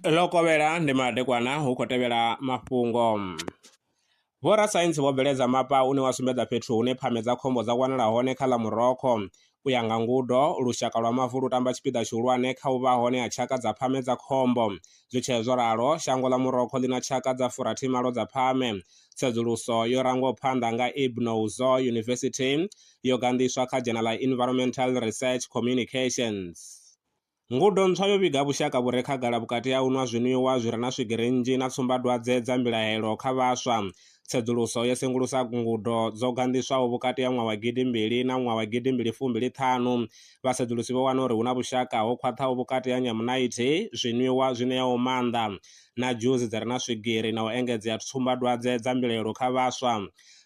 ḽo kovhela ndi madekwana hu khou tevhela mafhungo. Vhorasaintsi vho bveledza mapa une wa sumbedza fhethu hune pfame dza khombo dza wanala hone kha ḽa Morocco. U ya nga ngudo, lushaka lwa mavu lu tamba tshipiḓa tshihulwane kha u vha hone ha tshaka dza pfame dza khombo. Zwi tshee zwo ralo, shango ḽa Morocco ḽi na tshaka dza furathi malo dza pfame. Tsedzuluso yo rangwaho phanḓa nga Ibn Ouzo University yo ganḓiswa kha dzhena ḽa Environmental Research Communications. Ngudo ntswa yo vhiga vhushaka vhu re khagala vhukati ha u nwa zwinwiwa zwi re na swigiri nnzhi na tsumbadwadze dza mbilahelo kha vhaswa. Tsedzuluso yo sengulusa ngudo dzo ganḓiswaho vhukati ha ṅwaha wa gidi mbili na ṅwaha wa gidi mbili fumbili ṱhanu. Vhasedzulusi vho wana uri hu na vhushaka ho khwaṱhaho vhukati ha nyamunaithi, zwinwiwa zwi ṋeaho maanḓa, na dzhusi dzi re na swigiri na u engedzea tsumbadwadze dza mbilahelo kha vhaswa.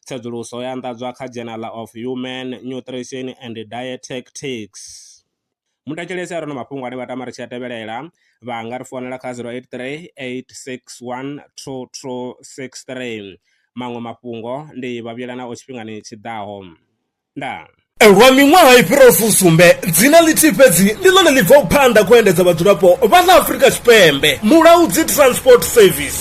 Tsedzuluso yo anḓadzwa kha Journal of Human Nutrition and Dietetics. Mu thetshelese a re na mafhungo ane vha tama ri tshi a tevhelela vha nga ri founela kha 083 861 2263. Maṅwe mafhungo ndi vha vhuyela nao tshifhingani tshi ḓaho. Ndaa. Lwa miṅwaha i fhiraho fusumbe, dzina ḽithihi fhedzi ndi ḽone ḽi bvaho phanḓa kha u endedza vhadzulapo vha ḽa Afrika Tshipembe, Mulaudzi Transport Service.